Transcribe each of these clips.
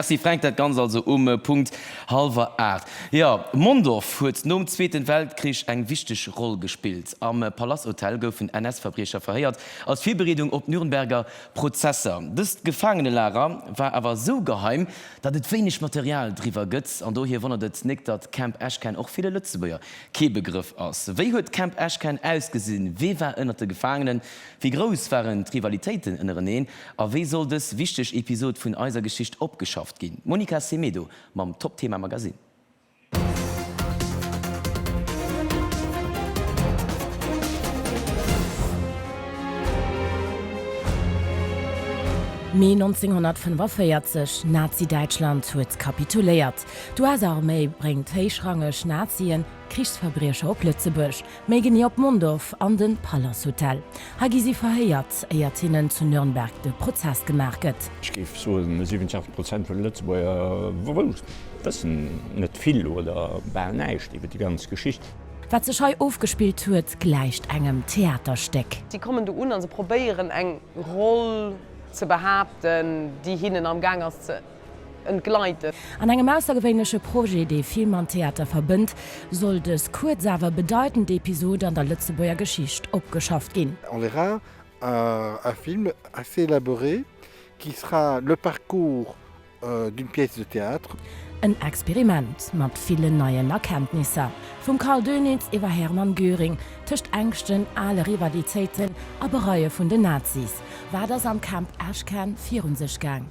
Merci Fränk, dat Ganzt also um Punkt hallwer 8. Jo, Mondorf huet nom Zweeten Weltkrich eng wichteg Roll gespillt. Am Palasthotel goufen NS-Verbriecher verhéiert, als Virbereedung op d'Nürnberger Prozesser. Dëst Gefaangenelager war awer esou geheim, datt et wéineg Material driwwer gëtt. An dohier wonnert et nik, datt Camp Eschken och ville Lëtzebuerger kee Begrëff ass. Wéi huet Camp Eschken ausgesinn? Wee war ënnert de Gefaangenen? Wéi grouss waren d'Rivalitéiten ënnereneen? A wéi soll dës wichteg Episod vun eiser Geschicht opgeschafft ginn? D'Monica Semedo mam Top Thema Magazine. Mee 1945, Nazi-Däitschland huet kapituléiert. D'US-Arméi bréngt héichrangeg Nazien Krichsverbriecher op Lëtzebuerg. Méi genee op Mondorf an de Palace Hotel. Hei gi si verhéiert, éiert hinnen zu Nürnberg de Prozess gemaach gëtt. Ech géif soen, 87 Prozent vun de Lëtzebuerger wëssen net vill oder bal näischt iwwer déi ganz Geschicht. Wat sech hei ofgespillt huet, gläicht engem Theaterstéck. Si kommen do un a se probéieren, eng Roll ze behaapten, déi hinnen amgaang ass ze. entgleiten. An engem aussergewéinleche Projet, dee Film an Theater verbënnt, soll dës kuerz awer bedeitend Episod an der Lëtzebuerger Geschicht opgeschafft ginn. On verra un film assez élaboré qui sera le parcours d'une pièce de théâtre. En Experiment mat villen neien Erkenntnisser, vum Karl Dönitz iwwer Hermann Göring, tëscht Ängschten, ale Rivalitéiten a Bereue vun den Nazis. Wat ass am Camp Ashcan virun sech gaang?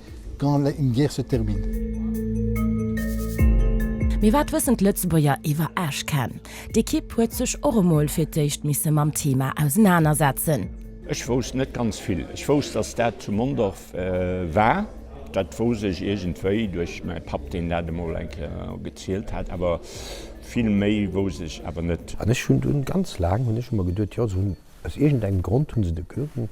quand la une guerre se termine. Mee wat wëssen d'Lëtzebuerger iwwer Ashcan? D'Ekipp huet sech och emol fir d'éischt misse mam Thema ausenanersetzen. Ech wousst net ganz vill. Ech wousst, datt dat zu Mondorf war. Dat wousst ech iergendwéi duerch mäi Papp, deen dat emol eng Kéier gezielt hat. Awer vill méi wousst ech awer net. An ech hunn dunn ganz laang hunn ech emmer geduet, jo, se hunn Aus iergend engem Grond hunn se de Göring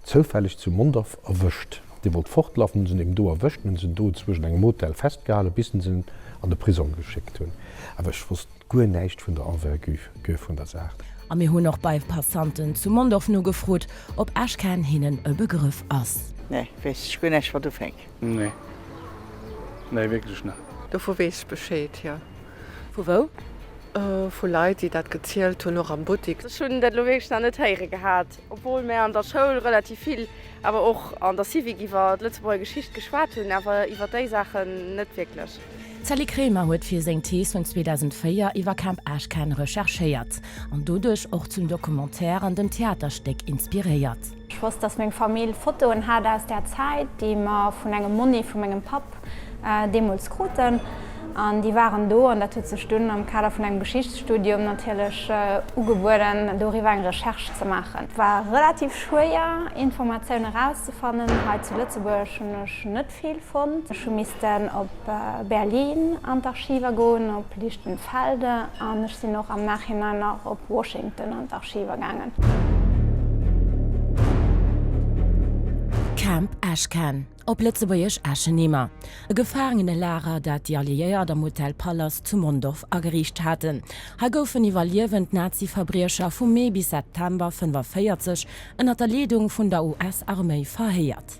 zoufälleg zu Mondorf erwëscht. Dee wollt fortlafen, hunn se en do erwëscht, hunn se en do zwëschent engem Hotel festgehalen, bis se en an de Prisong geschéckt hunn. Awer ech wosst guer näischt vun der Envergure vun der Saach. A mir hunn och bei Passanten zu Mondorf nogefrot, ob Esch-Käerch hinnen e Begrëff ass. Nee, weess ech guer näischt, wat ufänk. Nee. Nee, wierklech net. Dovu weess ech Bescheed, jo. Vu wou? Vu Leit, déi dat gezielt hunn, och am Buttik. Ech hunn dat elo wierklech nach net héiere gehat, obwuel mir an der Schoul relativ vill, awer och an der Civic, iwwer d'Lëtzebuerger Geschicht geschwat hunn, awer iwwer déi Saachen net wierklech. D'Sally Kremer huet fir seng Thees vun 2004 iwwer Camp Ashcan recherchéiert an doduerch och zum Documentaire an dem Theaterstéck inspiréiert. Ech wosst, dass meng Famill Fotoen hat aus där Zäit, déi mer vun engem Monni vu mengem Papp deemools kruten. An déi waren do, an dat huet sech dunn am Kader vun engem Geschichtsstudium natierlech ugebueden, doriwwer eng Recherche ze maachen. Et war relativ schwéier, Informatioun erauszefannen. Hei zu Lëtzebuerg hunn ech net Vill fonnt. Ech hu missten op Berlin an d'Archiver goen, op Lichtenfelde an ech sinn och am Nachhinein nach op Washington an d'Archiver gaangen. Camp Ashcan, op Lëtzebuergesch Eschenheimer, e Gefaangenelager, dat déi Alliéiert am Hotel Pallas zu Mondorf ageriicht haten. Hei goufen iwwerliewend Nazi-Verbriecher vu Mee bis September 1945 ënner der Leedung vun der US-Arméi verhéiert.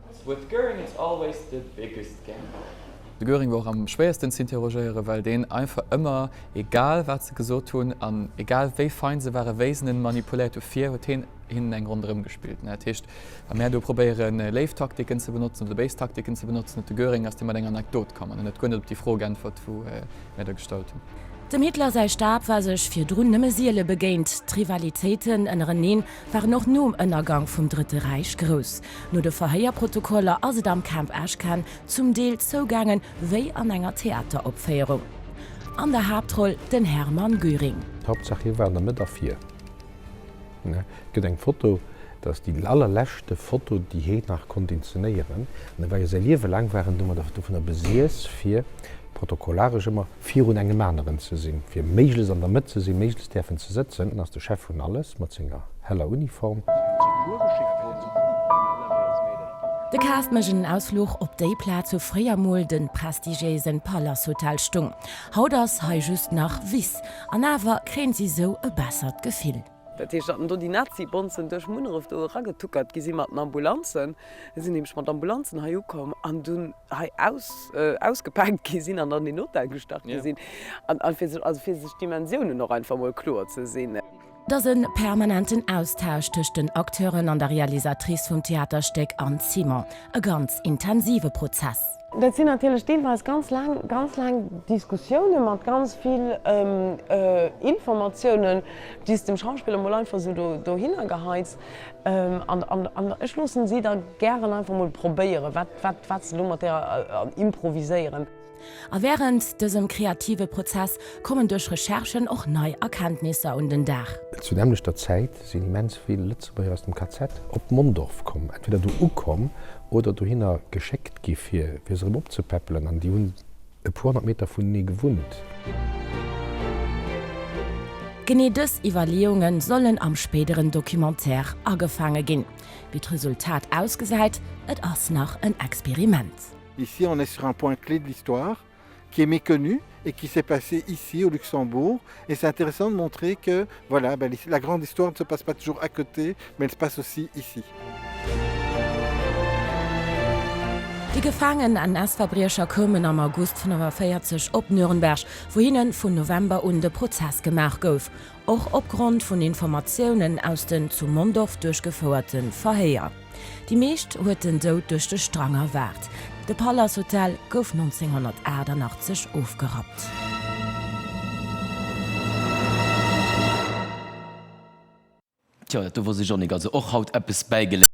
With Göring it's always the biggest gamble. De Göring wor och am schwéiersten z'interrogéieren, well deen einfach ëmmer, egal wat se gesot hunn an egal wéi fein se waren, wéi se en manipuléiert hu fir, huet heen hinnen eng Ronn erëm gespillt. Dat heescht, wa mär do probéieren léif Taktiken ze benotzen oder béis Taktiken ze benotzen, huet de Göring, ass dee mat enger Anekdot komm an en huet guer net op déi Fro geäntwert wou mär der gestallt hunn. Dem Hitler säi Stab war sech virdrun nëmme siele begéint. D'Rivalitéiten ënnereneen waren och nom Ënnergang vum Drëtte Räich grouss. No de Verhéierprotokoller ass et am Camp Ashcan zum Deel zougaange wéi an enger Theateropféierung. An der Haaptroll den Hermann Göring. Hauptsaach hie war an der Mëtt a vir. Et gëtt eng Foto, dat ass déi allerleschte Foto déi hie nach konnt inzenéieren. An e war jo säi Liewe laang war en domadder dovunner besiess fir protokollaresch ëmmer virun engem aneren ze sinn, fir méiglechst an der Mëtt ze sinn, méiglechst däerfen ze sëtzen, dann ass de Chef vun alles, mat senger heller Uniform. De Kaart mécht en Ausfluch op déi Plaz, wou fréier mol den prestigiéisen Palace Hotel stung. Haut ass hei just nach Wiss, an awer kréien si sou e bessert Gefill. Dat heescht, datt do déi Nazi-Bonzen duerch Munneref do eragetuckert gi si mat den Ambulanzen. Si sinn nämlech mat Ambulanzen hei ukomm an dunn hei ausgepaakt gi sinn an an den Hotel gestach gi sinn. A fir sech, also fir sech d'Dimensiounen och einfach emol kloer ze sinn. Et ass e permanenten Austausch tëscht den Acteuren an der Realisatrice vum Theaterstéck Anne Simon. E ganz intensive Prozess. Dat sinn natierlech deelweis ganz laang, ganz laang Diskussiounen mat ganz vill Informatiounen, déi s de dem Schauspiller mol einfach esou do dohinner geheis. An ech loossen si da gären einfach mol probéieren, wat, wat, wat se do mat där improviséieren. A wärend dësem kreative Prozess kommen duerch Recherchen och nei Erkenntnisser un den Dag. Zur nämmlechter Zäit sinn immens vill Lëtzebuerger aus dem KZ op Mondorf komm, entweder do ukomm oder dohinner geschéckt gi fir fir se erëm opzepäppelen, an déi hunn e puer honnert Meter vunenee gewunnt. Genee dës Iwwerleeunge sollen am spéideren Documentaire agefaange ginn. Wéi d'Resultat ausgesäit, et ass nach en Experiment. Ici on est sur un point clé de l'histoire. qui est méconnu et qui s'est passé ici au Luxembourg et c'est intéressant de montrer que voilà ben, la grande histoire ne se passe pas toujours à côté mais elle se passe aussi ici. Déi gefaangen NS-Verbriecher koumen am August 45 op Nürnberg, wou hinnen vun November un de Prozess gemaach gouf. Och opgrond vun Informatiounen aus den zu Mondorf duerchgefouerte Verhéier. Déi meescht huet den Doud duerch de Strang erwaart. De Palace Hotel gouf 1988 ofgerappt. Tjo, dat do wosst ech och nik, also och haut eppes bäigeléiert.